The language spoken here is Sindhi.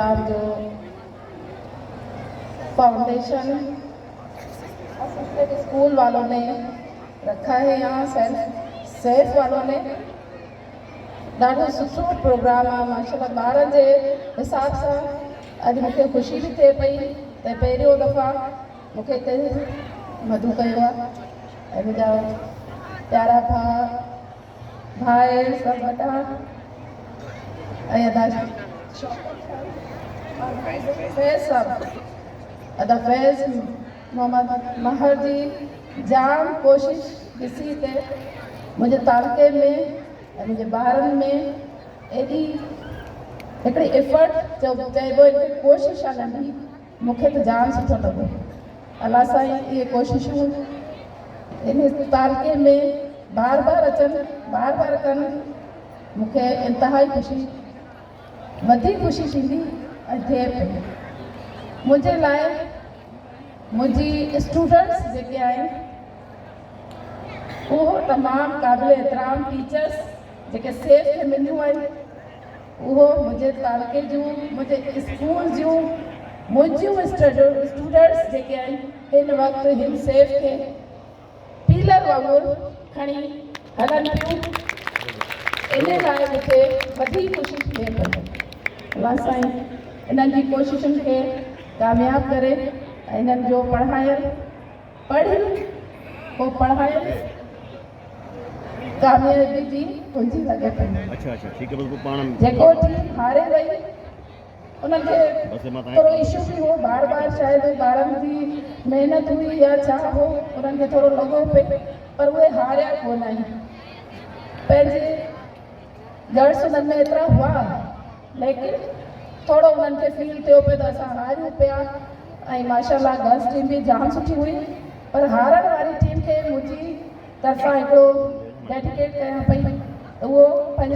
ڪارج فائونڊيشن اسسٽنٽ اسڪول والو ني رکا هي يهان سيف سيف والو ني ڏاڍو سٺو پروگرام آ ماشاءالله ٻارن جي حساب سان اڄ مونکي خوشي به ٿئي پئي ته پهريون دفعا مونکي ڪنهن مدعو ڪيو آ ۽ منهنجا پيارا ڀاء ڀائر سڀ وڏا ۽ ادا فيض صاحب ادا فيض محمد مهر جي جام ڪوشش ڏسي ته منهنجي تعلقي ۾ منهنجي ٻارن ۾ ايڏي هڪڙي افرٽ چئبو ان کي ڪوشش آ ننڍي مون کي ته جام سٺو لڳو. الله سائين اهي ڪوششون ان تعلقي ۾ بار بار اچن بار بار ڪن مون کي انتهائي خوشي وڌيڪ خوشي ٿيندي ۽ ٿئي پئي منهنجي لاء منهنجي اسٽوڊنٽس جيڪي آهن اهو تمام قابل احترام ٽيچرس جيڪي سيف فيمليون آهن اهو منهنجي تعلقي جون منهنجي اسڪول جون منهنجيون اسٽوڊنٽس جيڪي آهن هن وقت هن سيف کي پيلر وانگر کڻي هلن پيون ان لاء مونکي وڌيڪ خوشي ٿئي پئي الله سائين انهن جي ڪوششن کي ڪامياب ڪري انهن جو پڙهايل پڙهي پوء پڙهايو نه ڪاميابي جي ڪنجي لڳي پئي جيڪو ٽيم هاري وئي ان کي ٿورو اشو به هو بار بار شايد ٻارن جي محنت هئي يا ڇا هو انهن کي ٿورو لڳو پئي پر اهي هاريا ڪونه آهن پنهنجي گڙس انهن ۾ ايترا هئا ليڪن ٿورو انهن کي فيل ٿيو پيو ته اسان هاريون پيا ۽ ماشاء الله گرلس ٽيم به جام سٺي هئي پر هارڻ واري ٽيم کي منهنجي طرفان هڪڙو ڊيڊيڪيٽ ڪيان پئي ته اهو پنهنجي